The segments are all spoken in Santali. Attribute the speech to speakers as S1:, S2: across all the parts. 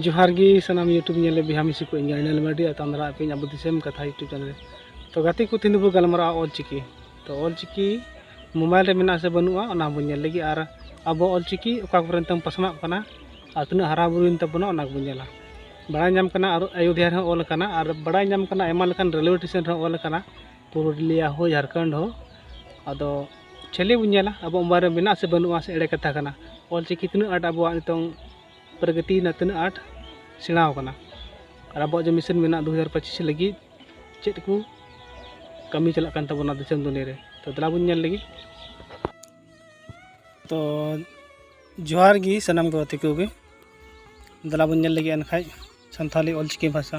S1: ᱡᱚᱦᱟᱨ ᱜᱮ ᱥᱟᱱᱟᱢ ᱤᱭᱩᱴᱩᱵᱽ ᱧᱮᱞ ᱵᱤᱦᱟ ᱢᱤᱥᱤ ᱠᱚ ᱤᱧ ᱨᱤᱱᱟᱞ ᱢᱟᱨᱰᱤ ᱟᱨ ᱛᱟᱢ ᱫᱟᱨᱟ ᱟᱯᱮᱧ ᱟᱵᱚ ᱫᱤᱥᱚᱢ ᱠᱟᱛᱷᱟ ᱤᱭᱩᱴᱩᱵᱽ ᱪᱮᱱᱮᱞ ᱛᱚ ᱜᱟᱛᱮ ᱠᱚ ᱛᱤᱱ ᱵᱚ ᱜᱟᱞᱢᱟᱨᱟᱜᱼᱟ ᱚᱞ ᱪᱤᱠᱤ ᱛᱚ ᱚᱞ ᱪᱤᱠᱤ ᱢᱳᱵᱟᱭᱤᱞ ᱨᱮ ᱢᱮᱱᱟᱜᱼᱟ ᱥᱮ ᱵᱟᱹᱱᱩᱜᱼᱟ ᱚᱱᱟ ᱵᱚᱱ ᱧᱮᱞ ᱞᱟᱹᱜᱤᱫ ᱟᱨ ᱟᱵᱚ ᱚᱞ ᱪᱤᱠᱤ ᱚᱠᱟ ᱠᱚᱨᱮ ᱱᱤᱛᱚᱝ ᱯᱟᱥᱱᱟᱜ ᱠᱟᱱᱟ ᱟᱨ ᱛᱤᱱᱟᱹᱜ ᱦᱟᱨᱟ ᱵᱩᱨᱩᱭᱮᱱ ᱛᱟᱵᱚᱱᱟ ᱚᱱᱟ ᱠᱚᱵᱚᱱ ᱧᱮᱞᱟ ᱵᱟᱲᱟᱭ ᱧᱟᱢ ᱠᱟᱱᱟ ᱟᱨ ᱟᱭᱳᱫᱷᱭᱟ ᱨᱮᱦᱚᱸ ᱚᱞ ᱠᱟᱱᱟ ᱟᱨ ᱵᱟᱲᱟᱭ ᱧᱟᱢ ᱠᱟᱱᱟ ᱟᱭᱢᱟ ᱞᱮᱠᱟᱱ ᱨᱮᱞᱣᱮ ᱥᱴᱮᱥᱚᱱ ᱨᱮᱦᱚᱸ ᱚᱞ ᱠᱟᱱᱟ ᱯᱩᱨᱩᱞᱤᱭᱟ ᱦᱚᱸ ᱡᱷᱟᱲᱠᱷᱚᱸᱰ ᱦᱚᱸ ᱟᱫᱚ ᱪᱷᱮᱞᱮ ᱵᱚᱱ ᱧᱮᱞᱟ ᱟᱵᱚ ᱢᱳᱵᱟᱭᱤᱞ ᱨᱮ ᱢᱮᱱᱟᱜᱼᱟ ᱥᱮ ᱵᱟᱹᱱᱩᱜᱼᱟ ᱥᱮ ᱮᱲᱮ ᱠᱟᱛᱷᱟ ᱠᱟᱱᱟ ᱚᱞ ᱪᱤᱠᱤ ᱛᱤᱱᱟᱹᱜ ᱟᱸᱴ ᱟᱵᱚᱣᱟᱜ ᱱᱤᱛᱚᱝ ᱯᱨᱚᱜᱚᱛᱤ ᱨᱮᱱᱟᱜ ᱛᱤᱱᱟᱹᱜ ᱟᱸᱴ ᱥᱮᱬᱟ ᱟᱠᱟᱱᱟ ᱟᱨ ᱟᱵᱚᱣᱟᱜ ᱡᱮ ᱢᱤᱥᱚᱱ ᱢᱮᱱᱟᱜᱼᱟ ᱫᱩ ᱦᱟᱡᱟᱨ ᱯᱚᱸᱪᱤᱥ ᱞᱟᱹᱜᱤᱫ ᱪᱮᱫ ᱠᱚ ᱠᱟᱹᱢᱤ ᱪᱟᱞᱟᱜ ᱠᱟᱱ ᱛᱟᱵᱚᱱᱟ ᱫᱤᱥᱚᱢ ᱫᱩᱱᱤᱭᱟᱹ ᱨᱮ ᱛᱚ ᱫᱮᱞᱟ ᱵᱚᱱ ᱧᱮᱞ ᱞᱟᱹᱜᱤᱫ ᱛᱚ ᱡᱚᱦᱟᱨ ᱜᱮ ᱥᱟᱱᱟᱢ ᱜᱟᱛᱮ ᱠᱚᱜᱮ ᱫᱮᱞᱟ ᱵᱚᱱ ᱧᱮᱞ ᱞᱟᱹᱜᱤᱫ ᱮᱱᱠᱷᱟᱡ ᱥᱟᱱᱛᱟᱲᱤ ᱚᱞᱪᱤᱠᱤ ᱵᱷᱟᱥᱟ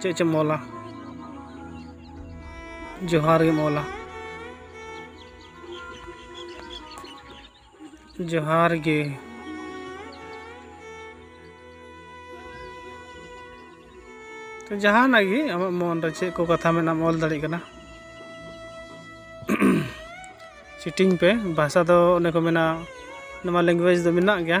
S1: ᱪᱮᱫ ᱪᱮᱢ ᱚᱞᱟ ᱡᱚᱦᱟᱨ ᱜᱮᱢ ᱚᱞᱟ ᱡᱚᱦᱟᱨ ᱜᱮ ᱛᱚ ᱡᱟᱦᱟᱱᱟᱜ ᱜᱮ ᱟᱢᱟᱜ ᱢᱚᱱ ᱨᱮ ᱪᱮᱫ ᱠᱚ ᱠᱟᱛᱷᱟ ᱢᱮᱱᱟᱜ ᱚᱞ ᱫᱟᱲᱮᱭᱟᱜ ᱠᱟᱱᱟ ᱪᱤᱴᱤᱝ ᱯᱮ ᱵᱷᱟᱥᱟ ᱫᱚ ᱚᱱᱮ ᱠᱚ ᱢᱮᱱᱟ ᱱᱚᱣᱟ ᱞᱮᱝᱜᱩᱭᱮᱡᱽ ᱫᱚ ᱢᱮᱱᱟᱜ ᱜᱮᱭᱟ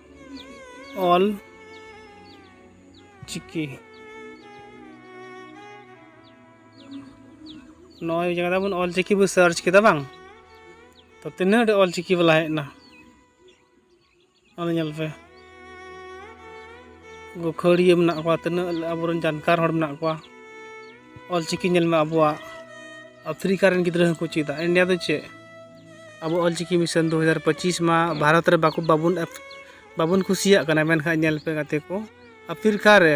S1: ᱚᱞ ᱪᱤᱠᱤ ᱱᱚᱜᱼᱚᱭ ᱵᱩᱡᱷᱟᱹᱣ ᱠᱮᱫᱟ ᱵᱚᱱ ᱚᱞ ᱪᱤᱠᱤ ᱵᱚᱱ ᱥᱟᱨᱪ ᱠᱮᱫᱟ ᱵᱟᱝ ᱛᱚ ᱛᱤᱱᱟᱹᱜ ᱰᱷᱮᱨ ᱚᱞ ᱪᱤᱠᱤ ᱵᱟᱞᱟ ᱦᱮᱡ ᱮᱱᱟ ᱚᱱᱟ ᱧᱮᱞ ᱯᱮ ᱜᱟᱹᱠᱷᱟᱹᱲᱤᱭᱟᱹ ᱢᱮᱱᱟᱜ ᱠᱚᱣᱟ ᱛᱤᱱᱟᱹᱜ ᱟᱵᱚᱨᱮᱱ ᱡᱟᱱᱠᱟᱨ ᱦᱚᱲ ᱢᱮᱱᱟᱜ ᱠᱚᱣᱟ ᱚᱞ ᱪᱤᱠᱤ ᱧᱮᱞ ᱢᱮ ᱟᱵᱚᱣᱟᱜ ᱟᱯᱷᱨᱤᱠᱟ ᱨᱮᱱ ᱜᱤᱫᱽᱨᱟᱹ ᱦᱚᱸᱠᱚ ᱪᱮᱫᱟ ᱤᱱᱰᱤᱭᱟ ᱫᱚ ᱪᱮᱫ ᱟᱵᱚ ᱚᱞᱪᱤᱠᱤ ᱢᱤᱥᱚᱱ ᱫᱩ ᱦᱟᱡᱟᱨ ᱯᱚᱸᱪᱤᱥ ᱢᱟ ᱵᱷᱟᱨᱚᱛ ᱨᱮ ᱵᱟᱠᱚ ᱵᱟᱵᱚᱱ ᱵᱟᱵᱚᱱ ᱠᱩᱥᱤᱭᱟᱜ ᱠᱟᱱᱟ ᱢᱮᱱᱠᱷᱟᱱ ᱧᱮᱞ ᱯᱮ ᱜᱟᱛᱮ ᱠᱚ ᱟᱯᱷᱤᱨ ᱠᱟ ᱨᱮ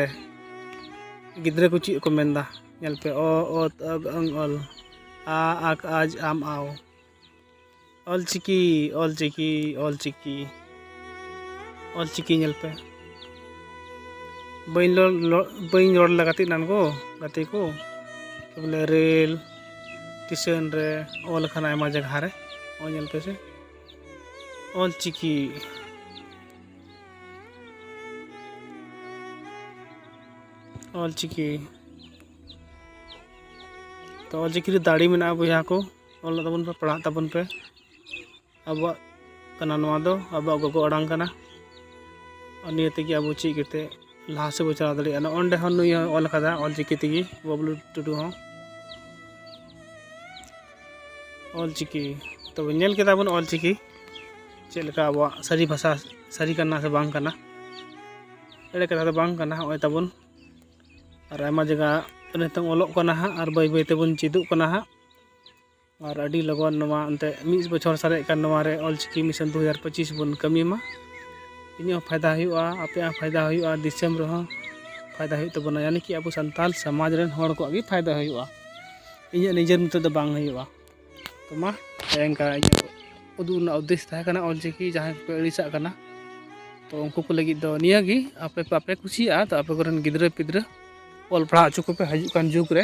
S1: ᱜᱤᱫᱽᱨᱟᱹ ᱠᱚ ᱪᱮᱫ ᱠᱚ ᱢᱮᱱᱫᱟ ᱧᱮᱞ ᱯᱮ ᱚ ᱚ ᱛ ᱚ ᱜ ᱝ ᱚᱞ ᱟ ᱟ ᱠ ᱟᱡ ᱟᱢ ᱟᱣ ᱚᱞᱪᱤᱠᱤ ᱚᱞᱪᱤᱠᱤ ᱚᱞᱪᱤᱠᱤ ᱚᱞ ᱪᱤᱠᱤ ᱧᱮᱞ ᱯᱮ ᱵᱟᱹᱧ ᱨᱚᱲ ᱵᱟᱹᱧ ᱨᱚᱲ ᱞᱮᱫᱟ ᱜᱟᱛᱮ ᱮᱱᱟᱱ ᱠᱚ ᱜᱟᱛᱮ ᱠᱚ ᱵᱚᱞᱮ ᱨᱮᱹᱞ ᱴᱮᱥᱚᱱ ᱨᱮ ᱚᱞ ᱟᱠᱟᱱᱟ ᱟᱭᱢᱟ ᱡᱟᱭᱜᱟ ᱨᱮ ᱚᱞ ᱧᱮᱞ ᱯᱮ ᱥᱮ ᱚᱞ ᱪᱤᱠᱤ ᱚᱞ ᱪᱤᱠᱤ ᱛᱚ ᱚᱞ ᱪᱤᱠᱤ ᱨᱮ ᱫᱟᱲᱮ ᱢᱮᱱᱟᱜᱼᱟ ᱵᱚᱭᱦᱟ ᱠᱚ ᱚᱞ ᱛᱟᱵᱚᱱ ᱯᱮ ᱯᱟᱲᱦᱟᱜ ᱛᱟᱵᱚᱱ ᱯᱮ ᱟᱵᱚᱣᱟᱜ ᱠᱟᱱᱟ ᱱᱚᱣᱟ ᱫᱚ ᱟᱵᱚᱣᱟᱜ ᱜᱚᱜᱚ ᱟᱲᱟᱝ ᱠᱟᱱᱟ ᱟᱨ ᱱᱤᱭᱟᱹ ᱛᱮᱜᱮ ᱟᱵᱚ ᱪᱮᱫ ᱠᱟᱛᱮᱫ ᱞᱟᱦᱟ ᱥᱮᱫ ᱵᱚᱱ ᱪᱟᱞᱟᱣ ᱫᱟᱲᱮᱭᱟᱜᱼᱟ ᱱᱚᱜᱼᱚᱭ ᱱᱚᱰᱮ ᱦᱚᱸ ᱱᱩᱭ ᱦᱚᱸ ᱚᱞ ᱠᱟᱫᱟ ᱚᱞ ᱪᱤᱠᱤ ᱛᱮᱜᱮ ᱵᱟᱹᱵᱽᱞᱩ ᱴᱩᱰᱩ ᱦᱚᱸ ᱚᱞ ᱪᱤᱠᱤ ᱛᱚᱵᱮ ᱧᱮᱞ ᱠᱮᱫᱟ ᱵᱚᱱ ᱚᱞ ᱪᱤᱠᱤ ᱪᱮᱫ ᱞᱮᱠᱟ ᱟᱵᱚᱣᱟᱜ ᱥᱟᱹᱨᱤ ᱵᱷᱟᱥᱟ ᱥᱟᱹᱨᱤ ᱠᱟᱱᱟ ᱥᱮ ᱵᱟᱝ ᱠᱟᱱᱟ ᱮᱲᱮ ᱠᱟᱛᱷᱟ ᱫᱚ ᱵᱟᱝ ᱠᱟᱱᱟ ᱱᱚᱜᱼᱚᱭ ᱛᱟᱵᱚᱱ ᱟᱨ ᱟᱭᱢᱟ ᱡᱟᱭᱜᱟ ᱱᱤᱛᱚᱝ ᱚᱞᱚᱜ ᱠᱟᱱᱟ ᱦᱟᱸᱜ ᱟᱨ ᱵᱟᱹᱭ ᱵᱟᱹᱭ ᱛᱮᱵᱚᱱ ᱪᱮᱫᱚᱜ ᱠᱟᱱᱟ ᱦᱟᱸᱜ ᱟᱨ ᱟᱹᱰᱤ ᱞᱚᱜᱚᱱ ᱱᱚᱣᱟ ᱮᱱᱛᱮᱫ ᱢᱤᱫ ᱵᱚᱪᱷᱚᱨ ᱥᱟᱨᱮᱡ ᱠᱟᱱ ᱱᱚᱣᱟ ᱨᱮ ᱚᱞ ᱪᱤᱠᱤ ᱢᱤᱥᱚᱱ ᱫᱩ ᱦᱟᱡᱟᱨ ᱯᱚᱸᱪᱤᱥ ᱵᱚᱱ ᱠᱟᱹᱢᱤ ᱢᱟ ᱤᱧᱟᱹᱜ ᱦᱚᱸ ᱯᱷᱟᱭᱫᱟ ᱦᱩᱭᱩᱜᱼᱟ ᱟᱯᱮᱭᱟᱜ ᱦᱚᱸ ᱯᱷᱟᱭᱫᱟ ᱦᱩᱭᱩᱜᱼᱟ ᱫᱤᱥᱚᱢ ᱨᱮᱦᱚᱸ ᱯᱷᱟᱭᱫᱟ ᱦᱩᱭᱩᱜ ᱛᱟᱵᱚᱱᱟ ᱡᱟᱱᱮ ᱠᱤ ᱟᱵᱚ ᱥᱟᱱᱛᱟᱲ ᱥᱚᱢᱟᱡᱽ ᱨᱮᱱ ᱦᱚᱲ ᱠᱚᱣᱟᱜ ᱜᱮ ᱯᱷᱟᱭᱫᱟ ᱦᱩᱭᱩᱜᱼᱟ ᱤᱧᱟᱹᱜ ᱱᱤᱡᱮᱨ ᱢᱚᱛᱚ ᱫᱚ ᱵᱟᱝ ᱦᱩᱭᱩᱜᱼᱟ ᱛᱳ ᱢᱟ ᱚᱱᱠᱟ ᱤᱧᱟᱹᱜ ᱩᱫᱩᱜ ᱨᱮᱱᱟᱜ ᱩᱫᱽᱫᱮᱥ ᱛᱟᱦᱮᱸ ᱠᱟᱱᱟ ᱚᱞ ᱪᱤᱠᱤ ᱡᱟᱦᱟᱸᱭ ᱠᱚᱯᱮ ᱟᱹᱲᱤᱥᱟᱜ ᱠᱟᱱᱟ ᱛᱳ ᱩᱱᱠᱩ ᱠᱚ ᱞᱟᱹᱜᱤᱫ ᱫᱚ ᱱᱤᱭᱟᱹ ᱜᱮ ᱟᱯᱮ ᱵᱟᱯᱮ ᱠᱩᱥᱤᱭᱟᱜᱼᱟ ᱛᱳ ᱟᱯᱮ ᱠᱚᱨᱮᱱ ᱜᱤᱫᱽᱨᱟᱹ ᱯᱤᱫᱽᱨᱟᱹ ᱚᱞ ᱯᱟᱲᱦᱟᱣ ᱦᱚᱪᱚ ᱠᱚᱯᱮ ᱦᱤᱡᱩᱜ ᱠᱟᱱ ᱡᱩᱜᱽ ᱨᱮ